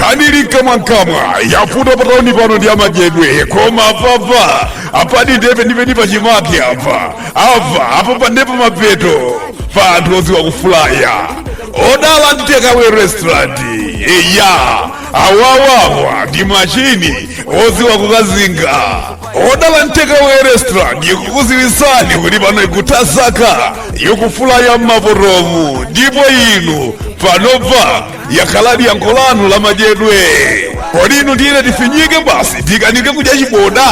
kanili mkamwamkamwa yafuta patauni pano ndi amadyedwe koma apapa apa ndiye penipeni pachimake apa apa apa apa ndepa mapeto pa anthu oziwa kufulaya Odala and Takeaway restaurant eya awawawa ndi machini odziwa kukazinga Odala and Takeaway restaurant ikukuziwisani kuti pano ikutakasa yokufulaya mmakomomu ndipo inu panopa yakhaladi yankho lanu la madyedwe kodi inu tiyene tifinyike basi tikanike kudya chiboda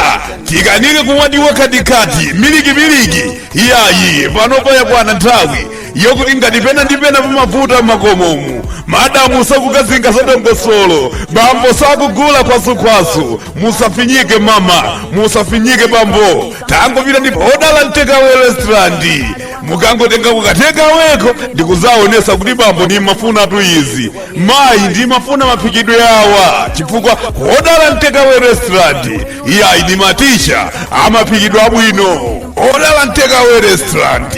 tikanike kumwa timwa katikati milikimiliki iyayi panopa yakwana nthawi yokuti ngati pena ndi pena pamavuta m'makomomu madamu sakukazinga za dongosolo bambo sakugula kwazukhwazu musafinyike mama musafinyike bambo tangopita ndi pa Odala and Takeaway restaurant mukangotenga ku katakeaway ko ndikuzaonesa kuti bambo ndimafuna tu izi mayi ndimafuna maphikidwe awa chifukwa Odala and Takeaway restaurant iyayi ndi matisha a maphikidwe abwino Odala and Takeaway restaurant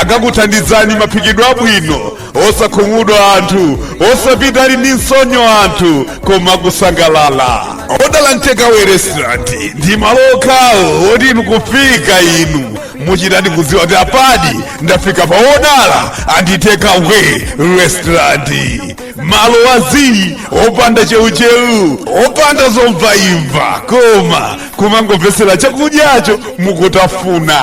akakuthandizani maphikidwe abwino osakhumudwa nthu osapita ali ndi tsonyo anthu koma kusangalala Odala and Takeaway restaurant ndi malo okhawo oti inu kufika inu muchitadi kudziwa kuti apadi ndafika pa Odala and Takeaway restaurant malo a zii opanda cheucheu opanda zomvaimva koma kumangomvetsera chakudyacho mukutafuna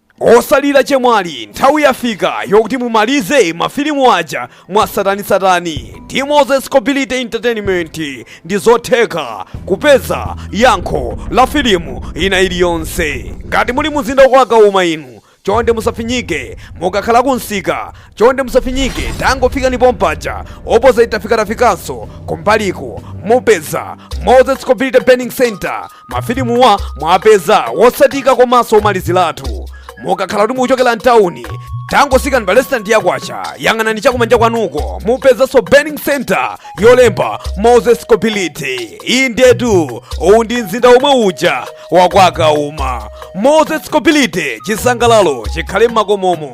Osalira chemwali nthawi yafika yokuti mumalize ma filimu aja mwatsatanetsatane ndi Moses Quality Entertainment ndi zotheka kupeza yankho la filimu ina iliyonse ngati muli mumzinda wa kwa Kauma inu chonde musafinyike mukakhala ku msika chonde musafinyike tangofikani pompaja opposite tafikatafikanso kumbaliku mupeza Moses Quality Burning Center mafilimuwa mwapeza otsatika komanso omaliziratu mukakhala kuti mukuchokera mtawuni tangotsikani pa lesitandi ya kwacha yang'anani chakumanja kwanuko mupezanso burning center yolemba moses quality indetu uwu ndi mzinda omwe uja wa kwa kauma moses quality chisangalalo chikhale m'makomomo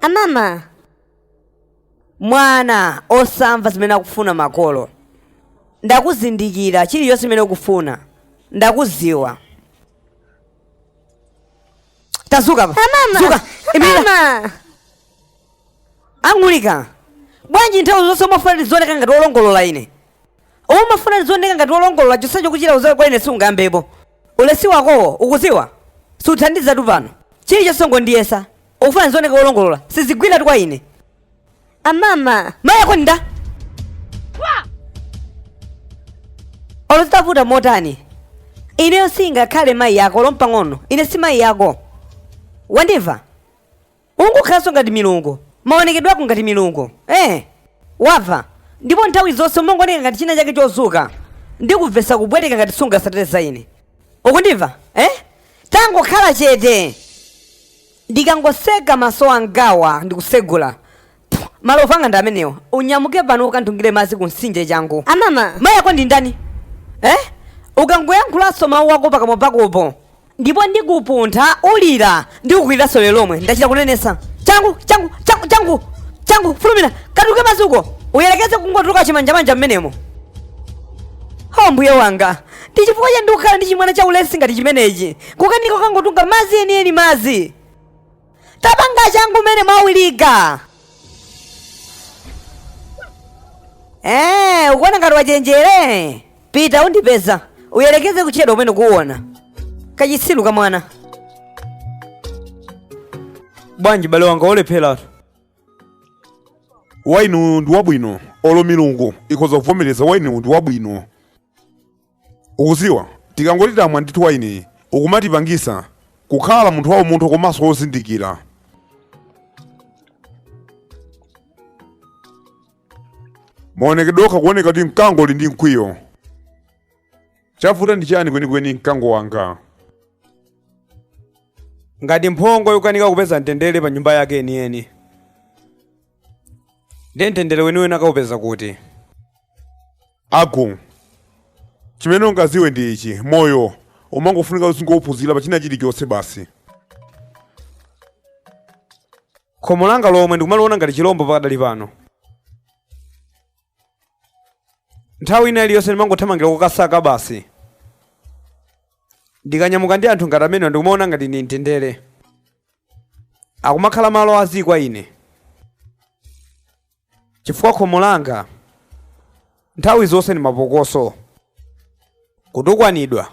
Amama! Mwana, osamva zimene akufuna makolo. Ndakuzindikira chilichonse chimene ukufuna. Ndakuziwa. Tazuka apa. Amama! Zuka. Imirira. Amama! Angulika. Bwanji nthawi zonse umafuna ndizioneka ngati olongolola ine? umafuna ndizioneka ngati wolongolola chonsecho ukuchita udziwa kwa ine sikungayambepo ulesi wakowo ukuziwa sukuthandizatu pano chilichonse ungondiyesa ukufuna ndizioneka wolongolola sizigwiratu kwa ine amama mayi ako ndani olo zitavuta motani ineyo sindingakhale mayi ako olo mpang'ono ine si mayi ako wandimva Ungokhalanso ngati milungu, maonekedwe ako ngati milungu, eh, wava, ndipo nthawi zonse umangoneka ngati china chake chozuka ndikumvesa kupweteka ngati sungasate za ine. Ukundimva? Eh? Tangokhala chete! Ndikangotseka maso angawa ndi kutsegula, Malovu anga ndi amenewa. Unyamuke pano ukanditungire madzi ku mtsinje changu. Amama. Mayi ako ndi ndani? Eh? Ukangoyankhulanso mawu ako pakamwa pakopo. Ndipo ndikupuntha ulira ndikukwiriranso lero lomwe. Ndachita kunenesa. Changu, changu, changu, changu. Changu, fulumira. Katunge madzi uko. Uyerekeze kungotuluka chimanjamanja mmenemo. Oh mbuye wanga. Ndi chifukwa chani ndikukhala ndi chimwana cha ulesi ngati chimenechi. Kukanika kangotunga madzi enieni madzi. tapangani changu mmene mwawilika Eh, ukuona ngati wachenjere pita undipeza uyerekeze kuchedwa pomwe ukuona kachitsilu ka mwana bwanji bale wanga olepheratu waini uyu ndi wabwino olo milungu ikhoza kuvomereza waini uyu ndi wabwino Ukuziwa tikangoti tamwa ndithu wainiyu akumatipangisa kukhala munthu waumunthu komanso wozindikira. Maonekedwe okha akuoneka kuti mkango uli ndi mkwiyo. Chavuta ndi chani kwenikweni mkango wanga? Ngati mphongo ikukanika kupeza mtendere pa nyumba yake yeniyeni, ndiye mtendere weniweni akaupeza kuti? Agu. Chimene ungaziwe ndi ichi, moyo umangofunika uzingouphunzira pa china chilichonse basi. Khomo langa lomwe ndikumaliona ngati chilombo pakadali pano. Nthawi ina iliyonse ndimangothamangira kukasaka basi. Ndikanyamuka ndi anthu ngati amenewa ndikumaona ngati ndi mtendere. Akumakhala malo azii kwa ine. chifukwa khomo langa nthawi zonse ndi mapokoso kutukwanidwa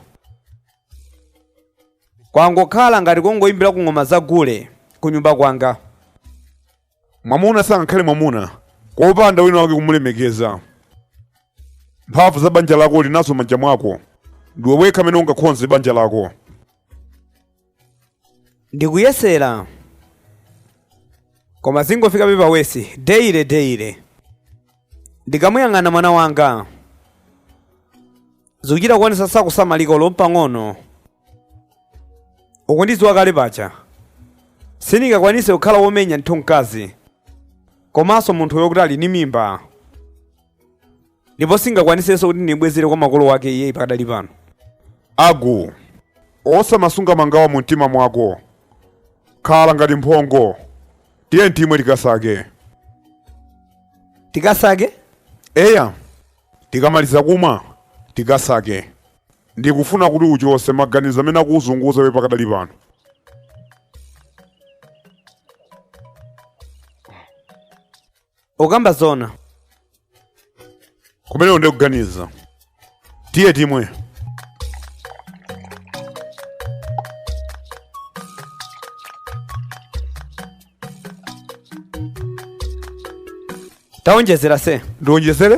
kwangokhala ngati kongoyimbira ku ng'oma za gule ku nyumba kwanga mwamuna sangakhale mwamuna kopanda wina wake kumulemekeza mphamvu za banja lako ulinazo m'manja mwako ndiwe wekha amene ungakhonze banja lako ndikuyesera koma zikungofika pa wesi deile deile ndikamuyang'ana mwana wanga zikuchita kuonesa sakusamalika ulo mpang'ono ukundidziwa kale paja sindingakwanise kukhala womenya munthu mkazi komanso munthu wokuti ali ni mimba ndipo singakwanisenso kuti ndimbwezere kwa makolo ake iyeyu pakadali pano agu osamasunga mangawa mu mtima mwako khala ngati mphongo tiye timwe tikasake tikasake eya tikamaliza kumwa tikasake ndikufuna kuti uchose maganizo amene akukuzunguza iwe pakadali pano ukamba zona kumene undikuganiza tiye timwe taonjezera se ndionjezere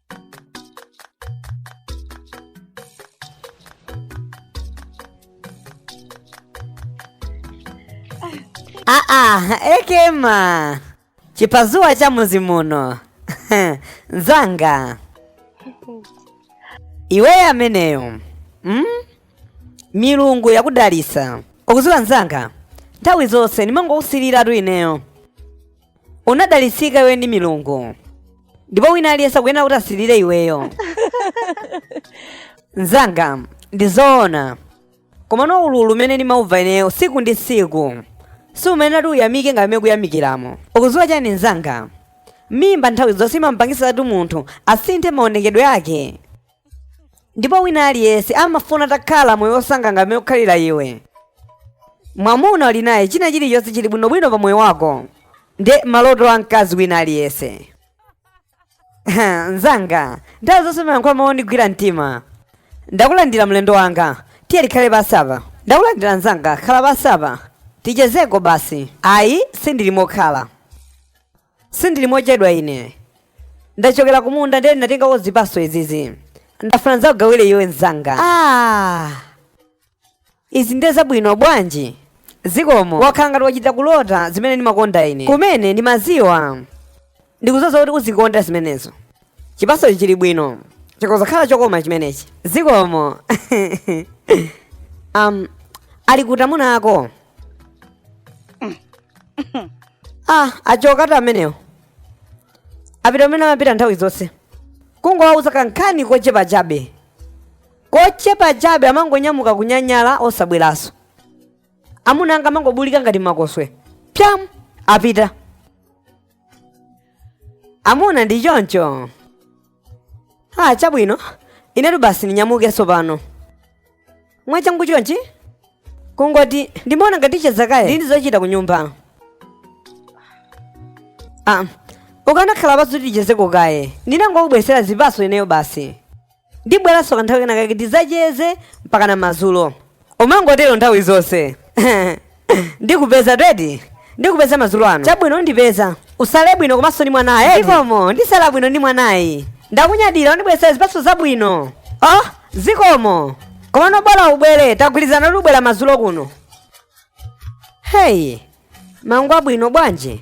Aa, ekema chipazuwa cha muzi muno nzanga iweyo ameneyo mm? milungu yakudalisa ukuziwa nzanga nthawi zonse ndimangokusiliratu ineyo unadalitsika iwe ndi milungu ndipo wina aliyense akuyenera kuti asirire iweyo mzanga ndi zoona komano ululu umene ndimauva ineyo siku ndi siku si umene ati uyamike ngati mmene ukuyamikiramo ukuziwa chani mzanga mimba nthawi zonse imamupangisatu munthu asinthe maonekedwe ake ndipo wina aliyense amafuna atakhala moyo wosangalala mmene ukukhalira iwe mwamuna uli naye china chilichonse chili bwinobwino pa moyo wako ndi maloto a mkazi wina aliyense nzanga nthawi zonse umayankhula mawu ondigwira mtima ndakulandira mlendo wanga tiye tikhale pansi apa ndakulandira nzanga khala pansi apa tichezeko basi ayi sindili mokhala sindili mochedwa ine ndachokera kumunda ndiye ndinatengako zipaso izizi ndafuna ndizakugawire iwe mzanga ah. izi ndiye zabwino bwanji zikomo wakhala ngati wachita kulota zimene ndimakonda ine kumene ndimaziwa ndikuziwa kuti uzikonda zimenezo chipasochi chili bwino chikoza kukhala chokoma chimenechi zikomo um, ali kuti amuna ako ah achoka eti amenewo apita amene amapita nthawi zonse kungowauza kankhani kochepa chabe kochepa chabe amangonyamuka kunyanyala osabweranso amuna anga amangobulika ngati makoswe pyam apita amuna ndi choncho ah chabwino inetu basi ndinyamuke tsopano mwachangu chonchi kungoti ndimaona ngati ticheza kaye ndili ndi zochita ku nyumba ah ukanakhala pansi tichezeko kaye ndinangokubweretsera zipatso ineyo basi ndibweranso kanthawi kenakake tidzacheze mpaka na madzulo umangotero nthawi zonse ndikupeza twedi ndikupeza madzulo ano chabwino undipeza usale bwino komanso ndi mwanayi zikomo ndisala bwino ndi mwanayi ndakunyadira wandibweretsera zipatso zabwino oh zikomo komano bola ubwere tagwirizana kuti ubwera madzulo kuno heyi maungu abwino bwanji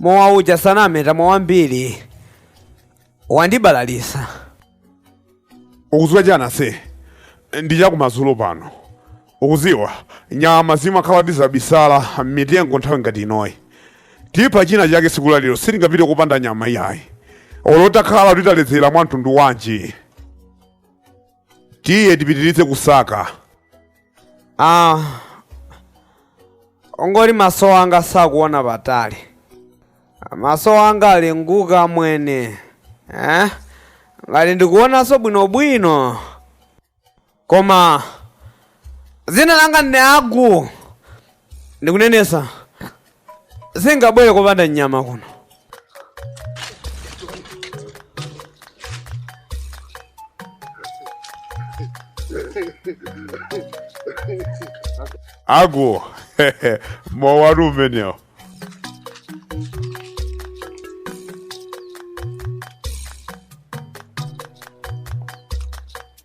mowa uja tinamwatu mowa wambiri wandibalalisa ukuziwa chani ase ndi chakumadzulo pano ukuziwa nyama zimakhala zitabisala m'mitengo nthawi ngati inoyi tipha china chake siku la lero sitingapite kupanda nyama iyayi olo takhala titaledzera mwa mtundu wanji tiye tipitiritse kusaka ah kungoti maso anga sakuona patali maso anga alefuka mwene eh? ngati ndikuonanso bwinobwino koma dzina langa ndi agu ndikunenetsa singabwere kupanda nyama kuno agu mowatu umenewo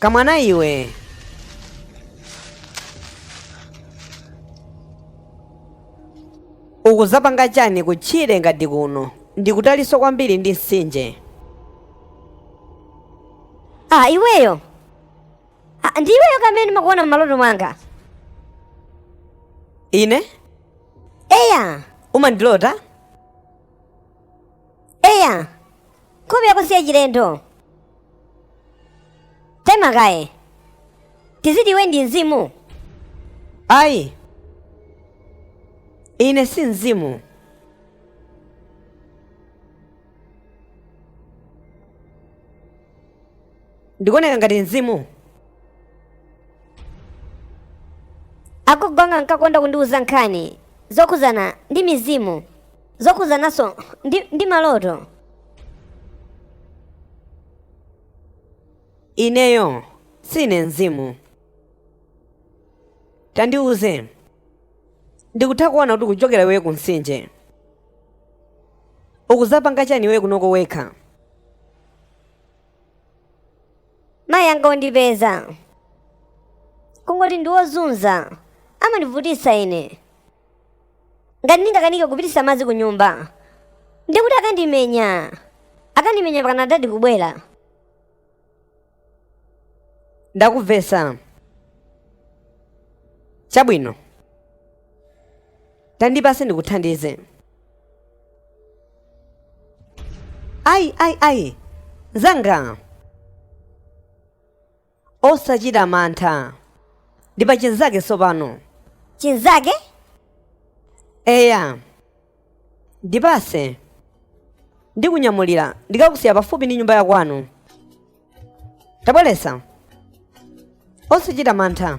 kamwana iwe ukudzapanga chani kutchire ngati kuno ndikutalinso kwambiri ndi mtsinje ah iweyo ah, ndi iweyo amene ndimakuona m'maloto anga ine eya umandilota eya nkhope yako si yachilendo taima kaye tiziti iwe ndi mzimu ayi ine si mzimu ndikuoneka ngati mzimu agogo anga ankakonda kundiwuza nkhani zokhudzana ndi mizimu zokhudzananso ndi, ndi maloto ineyo sine mzimu tandiuze ndikutha kuona kuti ukuchokera iweyo ku mtsinje ukudzapanga chani iwe kunoko wekha mayi anga ondipeza kungoti ndi wozunza amandivutitsa ine ngati ndingakanike kupitisa madzi ku nyumba ndikuti akandimenya akandimenya pakana dadi kubwera ndakuvesa chabwino tandipase ndikuthandize ayi ayi ayi zanga osachita mantha ndi pa chinzake tsopano chinzake eya ndipatse ndikunyamulira ndikakusiya pafupi ndi nyumba yakwanu tabweretsa osachita mantha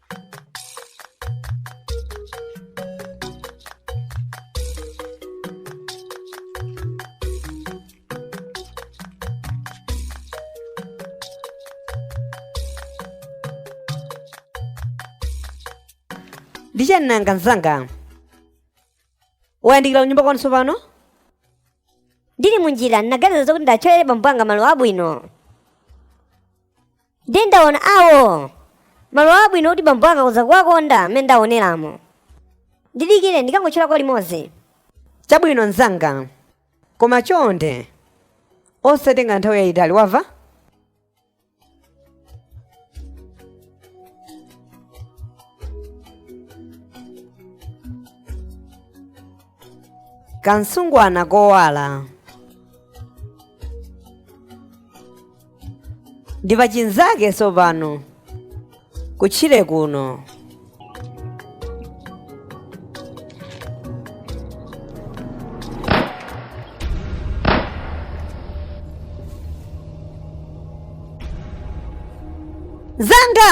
ndi chani nanga mzanga wayandikira kunyumba kwanu tsopano ndili munjira ndinaganiza zokuti ndiwatcholere bambo anga maluwa abwino ndiye ndaona awo maluwa abwino kuti bambo anga akhoza kuwakonda mmene ndaoneramo ndidikire ndikangotcholako limodzi chabwino mzanga koma chonde osatenga nthawi yayitali wamva kamsungwana kowala ndi pachinzake tsopano kutchire kuno mzanga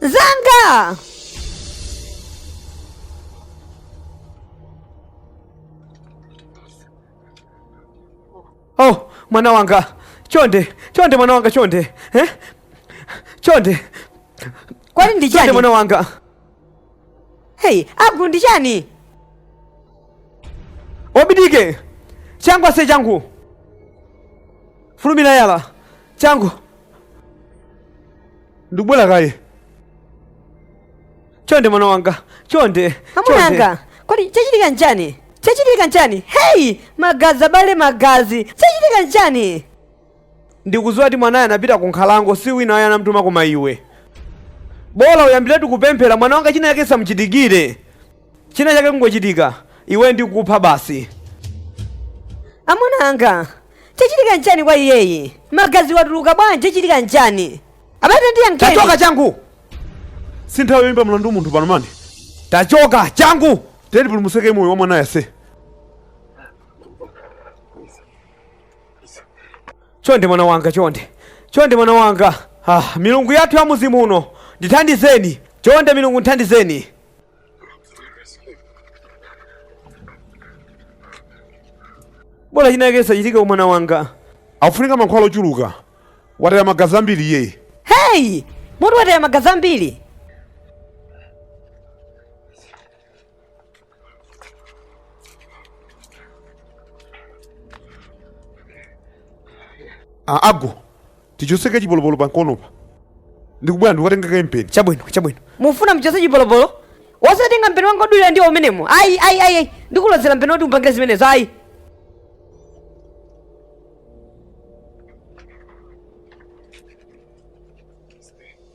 Zanga! Oh, mwana wanga. Chonde, chonde mwana wanga chonde. Eh? Chonde. Kwani ndi chani? Chonde mwana wanga. Hey, Agu ndi chani? Obidike. Changu ase changu. Fulumira yala. Changu. Ndikubwera kaye. Chonde mwana wanga. Chonde. Amuna anga. Kodi chachitika nchani? Chachitika nchani? Hey! Magazi abale magazi. Chachitika nchani? Ndikudziwa kuti mwanayo anapita ku nkhalango si wina ayi anamtuma koma iwe. Bola uyambiretu kupemphera mwana wanga china chake chisamchitikire. China chake kungochitika. Iwe ndikupha basi. Amuna anga. chachitika nchani kwa iyeyi magazi watuluka bwanji chachitika nchani abale tandiyankheni tachoka changu si nthawi yoyimba mlandu munthu pano mani tachoka changu tandipulumutsireko moyo wa mwanayu ase chonde mwana wanga chonde chonde mwana wanga ah, milungu yathu ya mudzi muno ndithandizeni chonde milungu nthandizeni bola chinake chisachitike kwa mwana wanga akufunika mankhwala ochuluka wataya magazi ambiri iyeyi heyi munthu wataya magazi ambiri Ah, agu tichotse kachipolopolo pamkonopa ndikubwera ndikatenge kampeni chabwino chabwino mufuna mchotse chipolopolo osatenga mpeni wanga odulira ndiwo umenemo ayi ayi ayi ayi ndikulozere mpeni woti upangire zimenezo ayi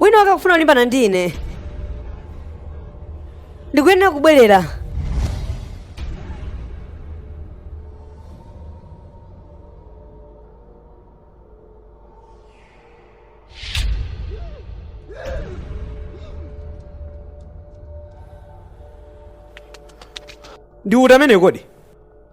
wina wake akufuna kulimbana ndi ine ndikuyenera kubwerera ndi uti amene kodi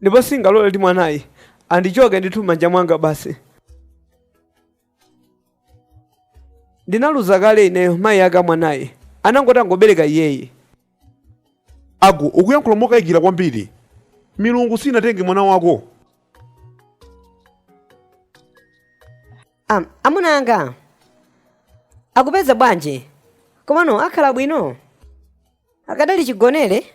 ndipo sindingalole kuti mwanayi andichoke ndithu m'manja mwanga basi ndinaluza kale ineyo mayi aka mwanayi anangoti atangobereka iyeyi agu ukuyankhula mokayikira kwambiri milungu sinatenge mwana wako Am, amuna anga akupeza bwanji komano akhala bwino akadali chigonere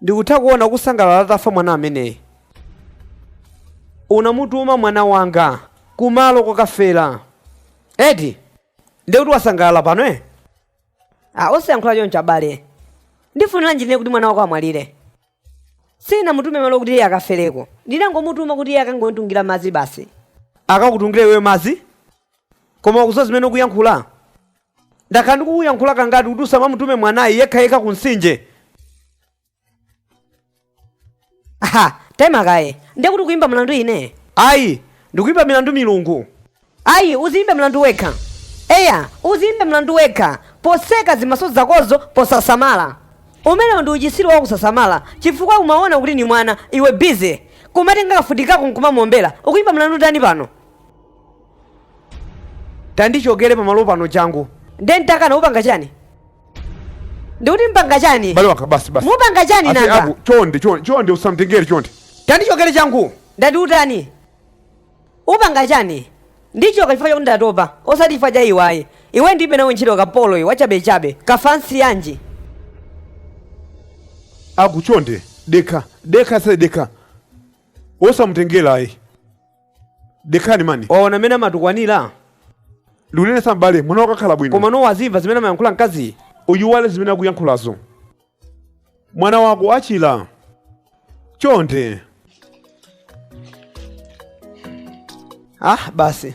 ndikutha kuona ukusangalala atafa mwana ameneyi unamutuma mwana wanga kumalo kokafera eti ndiye kuti wasangalala pano eh? a osayankhula choncho abale ndifuniranji ine kuti mwana wako amwalire sinamutume malo kuti iye akafereko ndinangomutuma kuti iye akangonditungira madzi basi akakutungire iwe madzi Koma ukudziwa zimene ukuyankhula? Ndakhala ndikukuyankhula kangati kuti usamamutume mwanayi yekhayekha ku mtsinje? Ha! Taima kaye. Ndiye kuti ukuimba mlandu ine? Ayi, ndikuimba milandu milungu. Ayi, udziimbe mlandu wekha. Eya, udziimbe mlandu wekha poseka zimaso zakozo posasamala. Umenewo ndi uchitsiru wakusasamala chifukwa umaona kuti ndi mwana, iwe busy kumatenga kamfuti kako n'kumamuombera. Ukuimba mlandu ndani pano? tandichokere pamalo pano changu nde nditakana upanga chani ndikuti mpanga chani bale wanga basi basi mupanga chani Ase, nanga abu, chonde chonde chonde usamtengere chonde tandichokere changu ndati utani upanga chani ndichoka chifukwa chakuti ndatopa osati chifukwa cha iwe ayi iwe ndilibe nawe ntchito kapolo iwe wachabechabe kafansi yanji aku chonde dekha dekha se dekha osamtengera ayi dekhani mani waona mmene amatukwanira ndikunenetsa m'bale mwana wanga akhala bwino komano wazimva zimene amayankhula mkaziyi uiwale zimene akuyankhulazo mwana wako achila chonde ah basi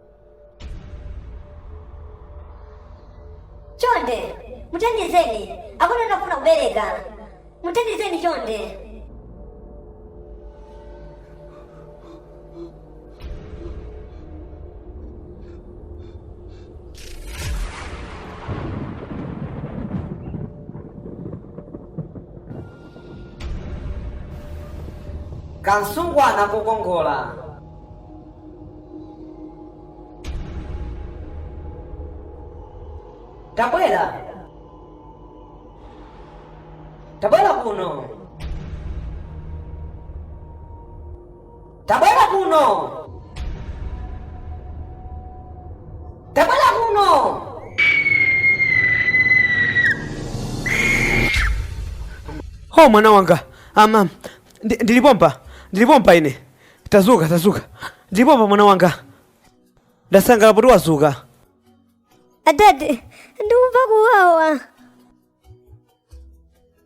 chonde muthandizeni akuti akufuna kubereka muthandizeni chonde kamtsungwana kokongola tabwera tabwera kuno tabwera kuno tabwera kuno o mwana wanga amam ndili pompa ndili pompa ine Tadzuka, tadzuka. Ndili pompa mwana wanga. Ndasangalala poti wadzuka. Atate, ndikumva kuwawa.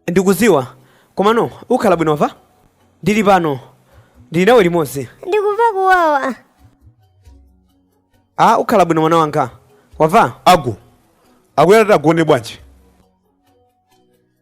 Ndikudziwa. Komano ukhala bwino wamva? Ndili pano. Ndili nawe limodzi. Ndikumva kuwawa. Ah, ukhala bwino mwana wanga. Wamva? Agu. Akuyenerati agone bwanji?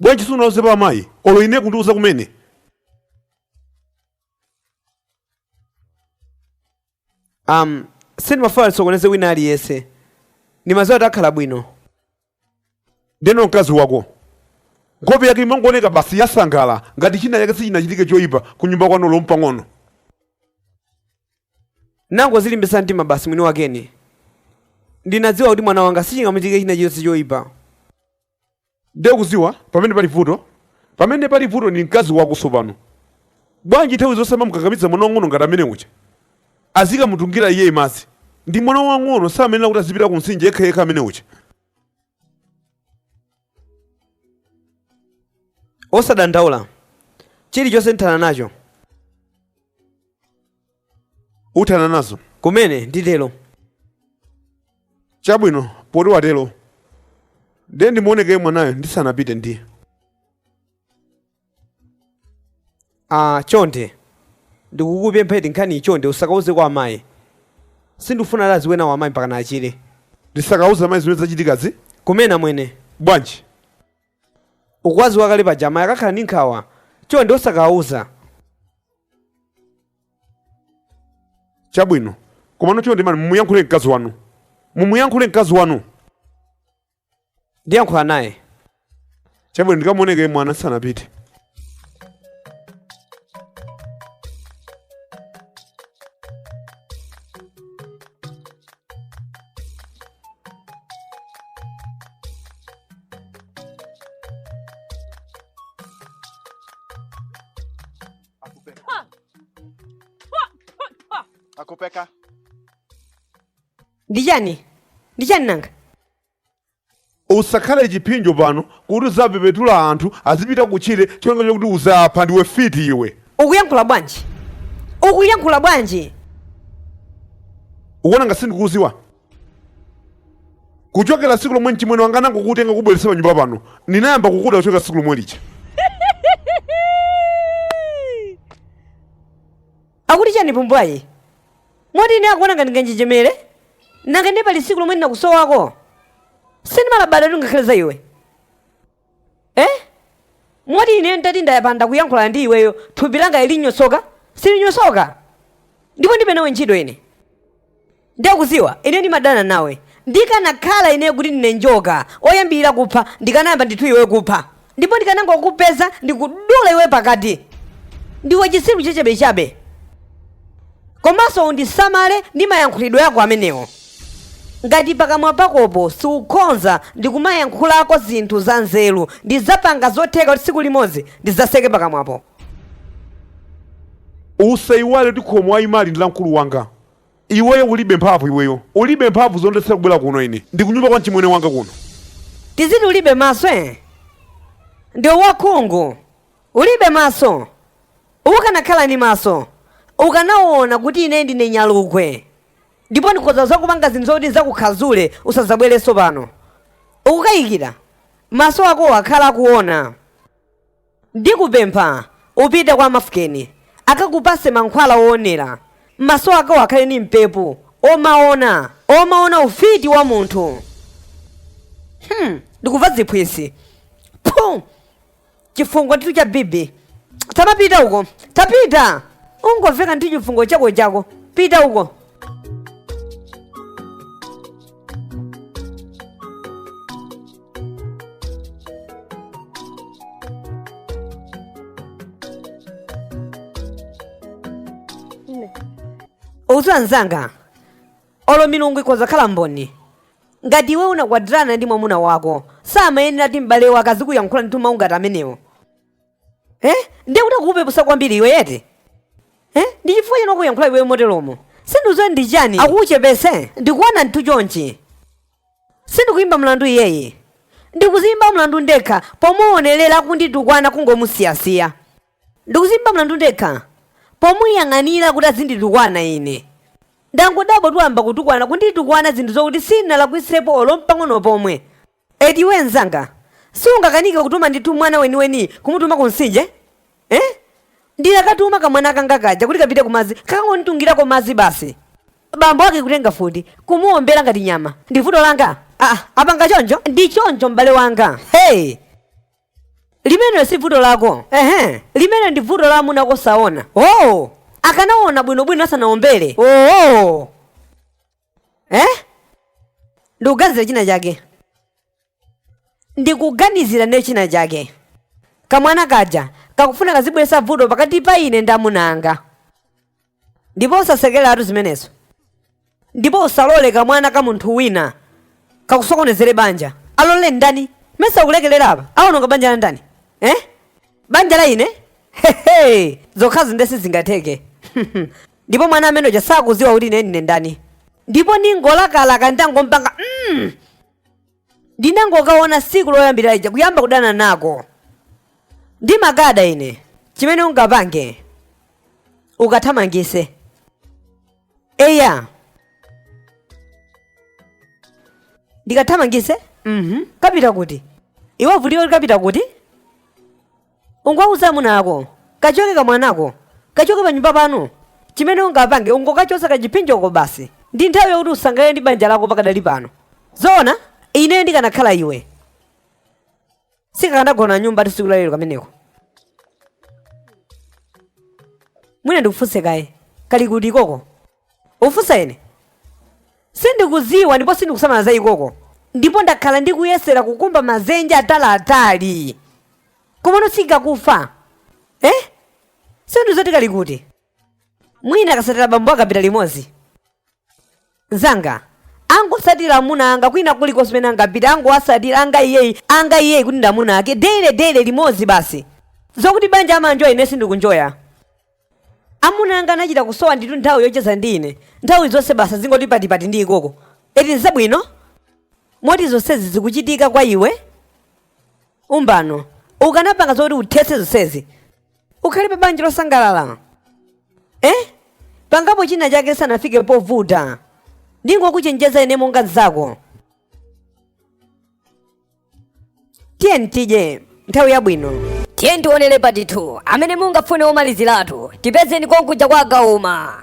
bwanji sunauzepo amayi olo ine kundiuza kumene um sindimafuna ndisokoneze wina aliyense ndimaziwa kuti akhala bwino ndeno mkazi wako nkhope yake imangooneka basi yosangalala ngati china chake sichinachitike choyipa ku nyumba kwanu olo mpang'ono anangozilimbisa mtima basi mwini wake ine ndinadziwa kuti mwana wanga sichingamuchitike china chilichonse choyipa ndiye ukuziwa pamene pali vuto pamene pali vuto ndi mkazi wako tsopano bwanji nthawi zonse amamukakamiza mwana wang'ono ngati amene uja azikamutungira iye madzi ndi mwana wang'ono sayenera kuti azipita ku mtsinje yekha yekha amene uja osadandaula chilichonse ndithana nacho uthana nazo kumene ndatero chabwino poti watero ndiye ndimuoneko mwanayo ndisanapite ndiye ah chonde ndikukupempha iyi nkhani chonde usakauze kwa amayi sindifuna kuti aziwe kanthu amayi mpakana achire ndisakauze amayi zimene zachitikazi kumene amwene bwanji Ukuwaziwa kale paja amayi akakhala ndi nkhawa chonde osakawauza. Chabwino. Komano chonde man mumuyankhule mkazi wanu. Mumuyankhule mkazi wanu. Ndiyankhula naye. Chabwino ndikamuone kaye mwana ndisanapite. akupanga ndi chani ndi chani nanga usakhale chiphinjo pano kuti uzipepetula anthu azipita kutchire cholinga chokuti uzawaphe ndiwe fiti iwe ukuyankhula bwanji ukuyankhula bwanji ukuona ngati sindikuuziwa kuchokera siku lomwe mchimwene wanga anangokutenga kubweretsa panyumba pano ndinayamba kukuda kuchokera siku lomwe lija akuti chani pumbwayi Moti ine akuona ngati nganjenjemere? Nanga ndiye pali tsiku lomwe ndinakusowako? Sindimalabada kuti ngakhale za iwe. Eh? Moti ine nditati ndayapanda kuyankhulana ndi iweyo, thupi langa linyosoka? Silinyosoka. Ndipo ndilibe nawe ntchito ine. Ndakuziwa, ine ndimadana nawe. Ndikanakhala ine kuti ndine njoka, oyambirira kupha, ndikanayamba ndithu iweyo kupha. ndipo ndikanangokupeza ndikudula iwe pakati ndiwe chisiru chachabechabe komanso undisamale ndi mayankhulidwe ako amenewo ngati pakamwa pakopo siukhonza ndikumayankhulako zinthu za nzeru ndidzapanga zotheka kuti tsiku limodzi ndidzatseke pakamwapo usaiwale kuti khomo waimali ndi la mkulu wanga Iweyo ulibe mphamvu iweyo ulibe mphamvu zondiletsera kubwera kuno ine ndikunyumba kwa mchimwene wanga kuno. Tiziti ulibe maso eh? Ndiwe wakhungu ulibe maso ukanakhala ndi maso ukanaona kuti ine ndine nyalugwe ndipo ndikhoza kuzakupanga zinthu zoti ndizakukhadzule usadzabwerenso pano ukukayikira maso ako akhala akuona. Ndikupempha upite kwa Mafukeni akakupatse mankhwala owonera m'maso akowo akhale ndi mphamvu omaona omaona ufiti wa munthu hmm. ndikuva ziphwisi phu chifungo ndithu cha bibi tapita uko tapita ungoveka ndi chifungo chako chako pita uko iwe mzanga olo milungu ikhoza khala mboni ngati iwe unakwatirana ndi mwamuna wako samayenera kuti m'bale wake azikuyankhula ndi mawu ngati amenewo eh? ndiye kuti akukupepusa kwambiri iwe eti eh? ndi chifukwa chene akukuyankhula iweyo moteromo sindidziwa ndi chani akukuchepese ndikuona ndithu chonchi sindikuimba mlandu iyeye ndikuziimba mlandu ndekha pomuonerera kunditukwana kungomusiyasiya ndikuziimba mlandu ndekha pomuyang'anira kuti azinditukwana ine ndangodabwa atayamba kutukwana kunditukwana zinthu zokuti sinalakwisepo olo mpang'ono pomwe eti iwe mzanga siungakanike kutuma ndithu mwana weniweni kumutuma ku mtsinje Eh? Ndinakatuma kamwana kanga kaja kuti kapite kumadzi kakangonditungirako madzi basi. Bambo ake kutenga mfuti kumuombera ngati nyama. Ndi vuto langa. Ah, apanga choncho? Ndi choncho m'bale wanga. Hey! Limenelo si vuto lako. Ehe. Limenelo ndi vuto la amuna ako saona. Oh! Akanaona bwinobwino asanaombere. Oh! eh? ndikuganizira china chake ndikuganizira ne china chake kamwana kaja kakufuna kazibweresa vuto pakati pa ine ndi amuna anga ndipo usasekereretu zimenezo ndipo usalole kamwana ka munthu wina kakusokonezere banja alole ndani mesa ukulekelera apa aononga banja la ndani eh? banja la ine hehe zokhazo nde sizingatheke Ndipo mwana amene uja sakuziwa kuti ine ndine ndani. Ndipo ndingolakalaka ntangokapanga mm! Ndinangokaona siku loyambirira lija kuyamba kudana nako. Ndimakada ine. Chimene ungapange ukathamangise. Eya. Ndikathamangise? Mhm. Kapite kuti? Iwe vutika kuti kapita kuti? Ungowawuza amuna ako, Kachoke kamwanako! Kachoke panyumba pano! Chimene ungapange ungokachotsa kachipsinjoko basi. Ndi nthawi yakuti usangalale ndi banja lako pakadali pano. Zoona, ineyo ndikanakhala iwe, sikakanagona nyumbatu tsiku la lero kameneko. Mwina ndikufunse kaye, kali kuti ikoko? Ufunsa ine? Sindikudziwa ndipo sindikusamala za ikoko. Ndipo ndakhala ndikuyesera kukumba mazenje ataliatali. Komano sikakufa. Eh? Sindiziwa zoti kali kuti? Mwina kasatira bambo ake apita limodzi. Nzanga, angosatira amuna anga kwina kulikonse kumene angapite angowasatira anga iyeyi anga iyeyi ngati ndi amuna ake daily daily limodzi basi. Zokuti banja amanjoya ine sindikunjoya. amuna anga amachita kusowa ndithu nthawi yocheza ndi ine nthawi zonse basi azingoti patipati ndi ikoko eti nzabwino moti zonsezi zikuchitika kwa iwe m'mbuyomu ukanapanga zoti uthetse zonsezi ukhale pa banja losangalala eh pangapo china chake sanafike povuta ndingokuchenjeza ine monga mzako tiyeni tidye nthawi yabwino tiyeni tioneretu patitu amene mungafune omaliziratu tipezeni konkuja kwa agauma